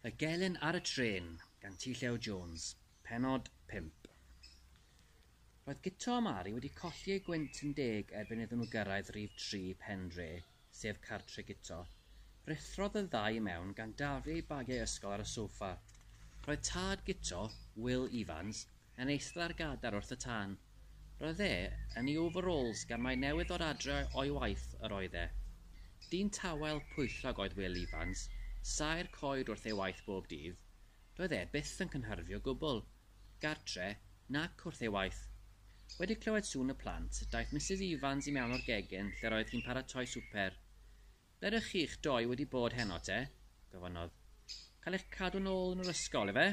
Y Gelyn ar y Trên gan T-Llew Jones, Pennod 5. Roedd Guto a Mari wedi colli eu gwynt yn deg erbyn iddyn nhw gyrraedd rif 3 pen dre, sef cartre Guto. Rhuthrodd y ddau i mewn gan daflu eu bagiau ysgol ar y soffa. Roedd tad Guto, Will Evans, Yn eistedda'r gadair wrth y tân. Roedd e yn ei overalls gan mai newydd ddod adre o'i waith yr oedd e. Dyn tawel, pwyllog oedd Wil Ifans, saer coed wrth ei waith bob dydd. Doedd e byth yn cynhyrfu o gwbl, gartre, nac wrth ei waith. Wedi clywed sŵn y plant, daeth Misus Ifans i mewn o'r gegin lle'r oedd hi'n paratoi swper. Ble ydych chi'ch dou wedi bod heno te? gofynnodd. Cael eich cadw nôl yn yr ysgol, efe?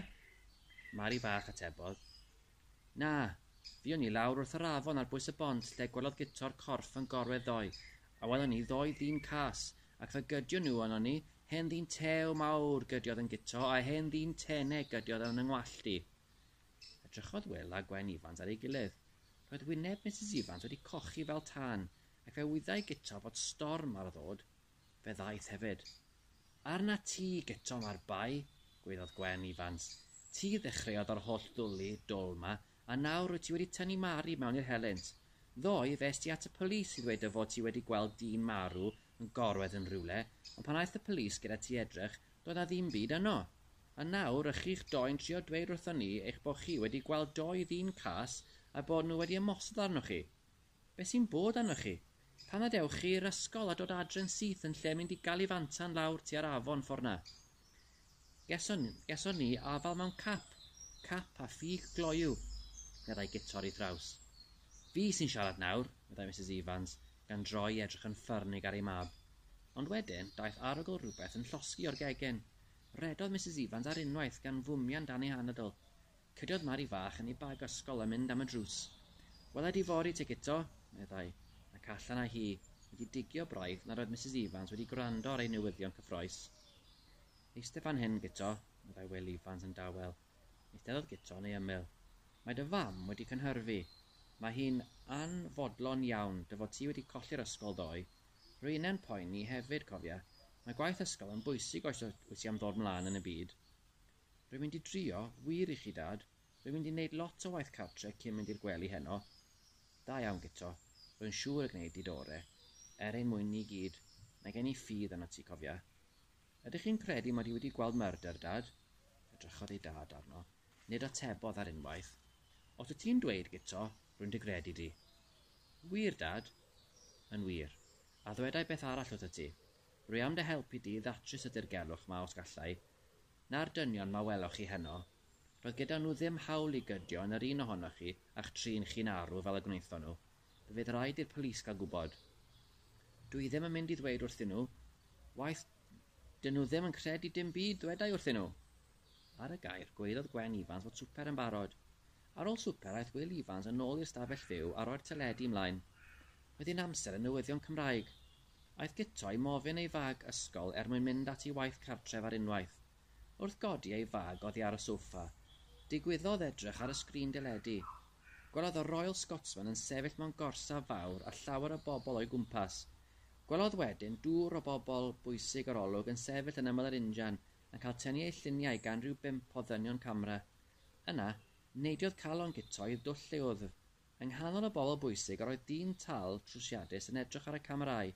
Mari Bach atebodd. Na, fuon ni lawr wrth yr afon ar bwys y bont lle gwelodd Guto'r corff yn gorwedd ddoe, a welon ni ddou ddyn cas, ac fe gydio nhw arnon ni, hen ddyn tew mawr gydiodd yn Guto a hen ddyn teneg gydiodd yn 'y ngwallt i. Edrychodd Wil a Gwen Ifans ar ei gilydd. Roedd wyneb Misus Ifans wedi cochi fel tân, A fe wyddai Guto fod storm ar ddod, fe ddaeth hefyd. Arna ti, Guto, mae'r bai, gwaeddodd Gwen Ifans. Ti ddechreuodd yr holl ddwli dwl 'ma, a nawr wyt ti wedi tynnu Mari mewn i'r helynt. Ddoe, fes ti at y polis i ddweud dy fod ti wedi gweld dyn marw yn gorwedd yn rhywle, ond pan aeth y polis gyda ti edrych, doedd 'na ddim byd yno. A nawr, ych chi'ch doi'n trio dweud wrthon ni eich bod chi wedi gweld dou ddyn cas a bod nhw wedi ymosod arnoch chi. Be sy'n bod arnoch chi? Pam na dewch chi i'r ysgol a dod adre'n syth yn lle mynd i Galifantan lawr tua'r afon ffor 'na? Geson, geson ni afal mewn cap, cap a ffug gloyw, meddai Guto'r i thraws. Fi sy'n siarad nawr, meddai Misus Evans, gan droi i edrych yn ffyrnig ar ei mab. Ond wedyn, daeth arogl rhywbeth yn llosgi o'r gegin. Rhedodd Misus Evans ar unwaith gan fwmian dan ei hanadl. Cydiodd Mari fach yn ei bag ysgol a mynd am y drws. Wela di fory te Guto, meddai, ac allan â hi, wedi digio braidd nad oedd Misus Ifans wedi gwrando ar ei newyddion cyffroes. Eiste fan hyn, Guto, meddai Wil Ifans yn dawel. Eisteddodd Guto yn ei ymyl. Mae dy fam wedi cynhyrfu. Mae hi'n anfodlon iawn dy fod ti wedi colli'r ysgol ddoe. Rwy'ne'n poeni hefyd, cofia. Mae gwaith ysgol yn bwysig os wyt ti am ddod 'mlaen yn y byd. Rwy'n mynd i drio, wir i chi, Dad. Rwy'n mynd i wneud lot o waith cartre cyn mynd i'r gwely heno. Da iawn, Guto. Rwy'n siŵr y gwnei di dy ore'. Er ein mwyn ni gyd, mae gen i ffydd arnot ti, cofia. Ydych chi'n credu mod i wedi gweld murder, Dad? Edrychodd ei dad arno. Nid atebodd ar unwaith. Os wyt ti'n dweud, Guto, rwy'n dy gredu di. Yn wir, Dad? Yn wir. A ddwedai beth arall wrthyt ti. Rwy am dy helpu di i ddatrys y dirgelwch 'ma os gallai, Na'r dynion 'ma weloch chi heno. Doedd gyda nhw ddim hawl i gydio yn yr un ohonoch chi a'ch trin chi'n arw fel y gwnaethon nhw. Fe fydd raid i'r polis gael gwybod. Dw i ddim yn mynd i ddweud wrthyn nhw. Waeth, 'dyn nhw ddim yn credu dim byd ddwedai wrthyn nhw. Ar y gair, gwelodd Gwen Ifans fod swper yn barod. Ar ôl swper aeth Wil Ifans yn ôl i'r stafell fyw a roi'r teledu ymlaen. Roedd hi'n amser y newyddion Cymraeg. Aeth Guto i mofyn ei fag ysgol er mwyn mynd at i waith cartref ar unwaith. Wrth godi ei fag oddi ar y soffa, digwyddodd edrych ar y sgrin deledu. Gwelodd y Royal Scotsman yn sefyll mewn gorsaf fawr a llawer o bobl o'i gwmpas. Gwelodd wedyn dwr o bobl bwysig yr olwg yn sefyll yn ymyl yr injan yn cael tynnu eu lluniau gan ryw bump o ddynion camera. Yna, neidiodd calon Guto i'r dwll lle oedd Yng nghanol y bobl bwysig yr oedd dyn tal trwsiadus yn edrych ar y camerâu.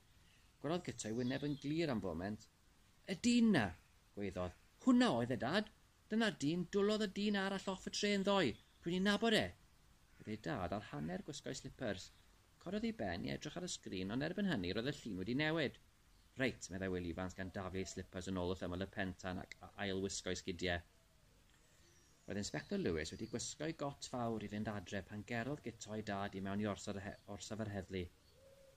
Gwellodd Guto'i wyneb yn glir am foment. Y dyn 'na! gwaeddodd. Hwnna oedd e, Dad! Dyna'r dyn, dwlodd y dyn arall off y trên ddoe! Dwi'n ei nabod e! Bydd ei dad ar hanner gwisgo'i slipars. Cododd ei ben i edrych ar y sgrin ond erbyn hynny roedd y llun wedi newid. Reit, meddai Wil Ifans gan daflu ei slipars yn ôl wrth ymyl y pen tan ac ail-wisgo'i sgidiau. Roedd Inspector Lewis wedi gwisgo'i got fawr i fynd adre pan gerodd Guto'i dad i mewn i orsaf yr heddlu.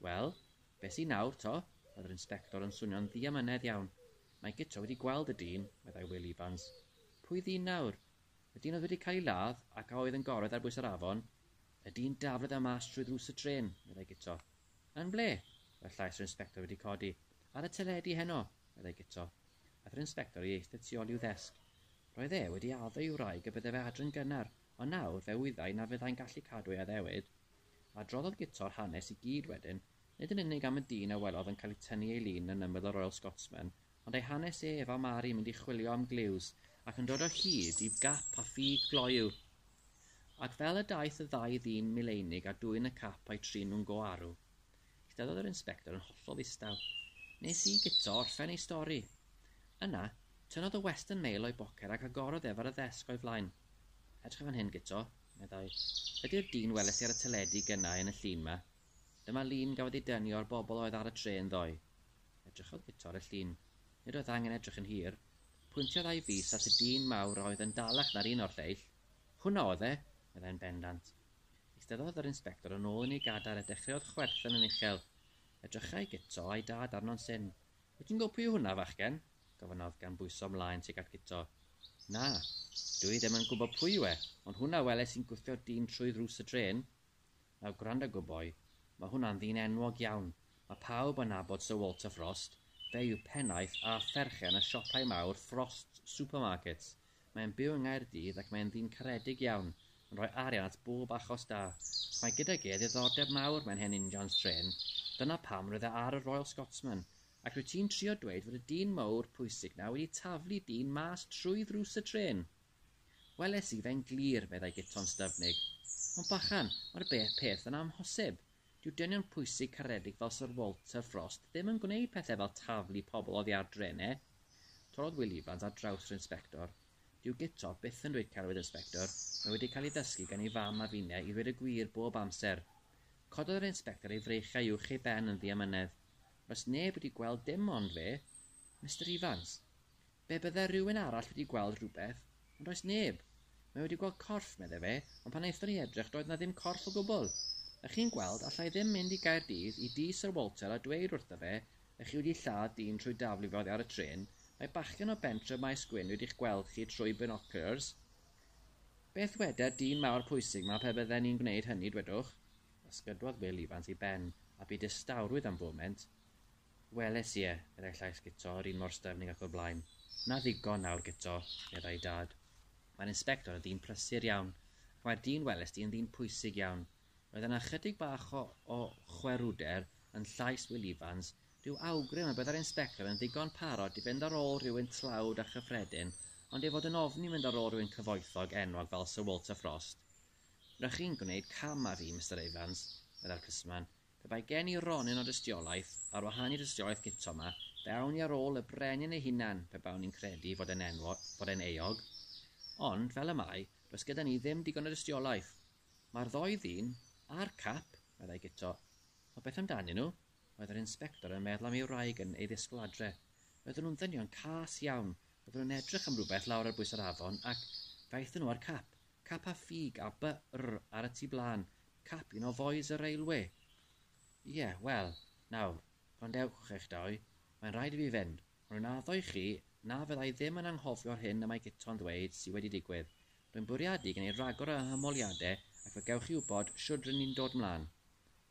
Wel, be sy nawr, to? roedd yr Inspector yn swnio'n ddiamynedd iawn. Mae Guto wedi gweld y dyn, meddai Wil Ifans. Pwy ddyn nawr? Y dyn oedd wedi cael ei ladd ac a oedd yn gorwedd ar bwys yr afon? Y dyn daflodd e mas trwy ddrws y trên, meddai Guto. Yn ble? Roedd llais yr inspector wedi codi. Ar y teledu heno! meddai Guto. Aeth yr inspector i eistedd tu ol i'w ddesg. Roedd e wedi addo i'w wraig y bydde fe adre'n gynnar, ond nawr fe wyddai na fyddai'n gallu cadw ei addewid. Adroddodd Guto'r hanes i gyd wedyn, nid yn unig am y dyn a welodd yn cael ei tynnu ei lun yn ymyl y Royal Scotsman, ond ei hanes ef a Mari mynd i chwilio am gliws ac yn dod o hyd i gap a ffug gloyw. Ac fel y daeth y ddau ddyn mileinig a dwyn y cap a'u trin nhw'n go arw, eisteddodd yr inspector yn hollol ddistaw. Nes i guto orffen ei stori. Yna, tynnodd y Western Mail o'i boced ac agorodd ef ar y ddesg o'i flaen. Edrych fan hyn, Guto, meddai. Ydi'r dyn weles di ar y teledu gynna' i yn y llun 'ma? Dyma lun gafodd ei dynnu o'r bobl oedd ar y trên ddoe. Edrychodd Guto ar y llun. Nid oedd angen edrych yn hir. Pwyntiodd a'i fys at y dyn mawr a oedd yn dalach na'r un o'r lleill. Hwnna oedd e! meddai'n bendant. Eisteddodd yr inspector yn ôl yn ei gadair a dechreuodd chwerthin yn uchel. Edrychai Guto a'i dad arno'n syn. Wyt ti'n gwybod pwy yw hwnna, fachgen? gofynnodd gan bwyso ymlaen tuag at Guto. Na, dw i ddim yn gwybod pwy yw e, ond hwnna weles i'n gwthio dyn trwy ddrws y drên. Nawr gwranda gwboi, mae hwnna'n ddyn enwog iawn, mae pawb yn nabod Sir Walter Frost, fe yw pennaeth a pherchen y siopau mawr Frost Supermarkets, mae'n byw yng Nghaerdydd ac mae'n ddyn caredig iawn, yn rhoi arian at bob achos da. Mae gydag e ddiddordeb mawr mewn hen injans trên, dyna pam roedd e ar y Royal Scotsman. Ac rwyt ti'n trio dweud fod y dyn mowr pwysig 'na wedi taflu dyn mas trwy ddrws y trên? Weles i fe'n glir, meddai Guto'n styfnig. Ond bachan, mae'r beth peth yn amhosib. Dyw dynion pwysig caredig fel Syr Walter Frost ddim yn gwneud pethau fel taflu pobl oddi ar drene. Torrodd Wil Ifans ar draws yr inspector. Dyw Guto byth yn dweud celwydd inspector, mae wedi cael ei ddysgu gan ei fam a finne i ddweud y gwir bob amser. Cododd yr inspector ei freichiau uwch ei ben yn ddiamynedd. Does neb wedi gweld dim ond fe, Mister Ifans. Be bydde rhywun arall wedi gweld rhywbeth, ond does neb. Mae wedi gweld corff, meddai fe, ond pan aethon ni edrych doedd 'na ddim corff o gwbl. Ych chi'n gweld, alla i ddim mynd i Gaerdydd, i dŷ Syr Walter a dweud wrtho fe, ych chi wedi lladd dyn trwy daflu fe oddi ar y trên, mae bachgen o bentref Maes Gwyn wedi'ch gweld chi trwy binoculars. Beth weder dyn mawr pwysig 'ma pe bydden ni'n gwneud hynny, dwedwch? Ysgydwodd Wil Ifans ei ben, a bu distawrwydd am foment. Weles ie, meddai llais Guto, yr un mor styfnig ac o'r blaen. Na ddigon nawr, Guto, meddai Dad. Mae'r Inspector yn ddyn prysur iawn, ac mae'r dyn welest ti yn ddyn pwysig iawn. Roedd yna ychydig bach o, o chwerwder yn llais Wil Ifans, rhyw awgrym y byddai'r Inspector yn ddigon parod i fynd ar ôl rhywun tlawd a chyffredin, ond ei fod yn ofni mynd ar ôl rhywun cyfoethog enwog fel Sir Walter Frost. Ry'ch chi'n gwneud cam â fi, Mister Ifans, meddai'r plismon, Pe bai gen i ronyn o dystiolaeth, ar wahân i dystiolaeth Guto 'ma, fe awn i ar ôl y brenin ei hunan pe bawn i'n credu fod e'n enwo-, fod e'n euog. Ond, fel y mae, does gyda ni ddim digon o dystiolaeth. Mae'r ddou ddyn, a'r cap, meddai Guto. Ond beth amdanyn nhw? Roedd yr inspector yn meddwl am ei wraig yn ei ddisgwyl adre. Roedden nhw'n ddynion cas iawn. Roedden nhw'n edrych am rywbeth lawr ar bwys yr afon ac, fe aethon nhw â'r cap. Cap a ffug a by rr ar y tu blaen, cap un o Foys y Railwê. Ie, wel, nawr, gwrandewch, eich dau, mae'n rhaid i fi fynd, ond rwy'n addo i chi na fydda i ddim yn anghofio'r hyn y mae Guto'n ddweud sy wedi digwydd. Rwy'n bwriadu gwneud rhagor o hymholiadau ac fe gewch chi wybod shwd rŷn ni'n dod 'mlaen.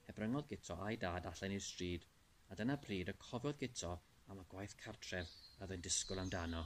Hebryngodd Guto a'i dad allan i'r stryd, a dyna pryd y cofiodd Guto am y gwaith cartref a oedd e'n disgwyl amdano.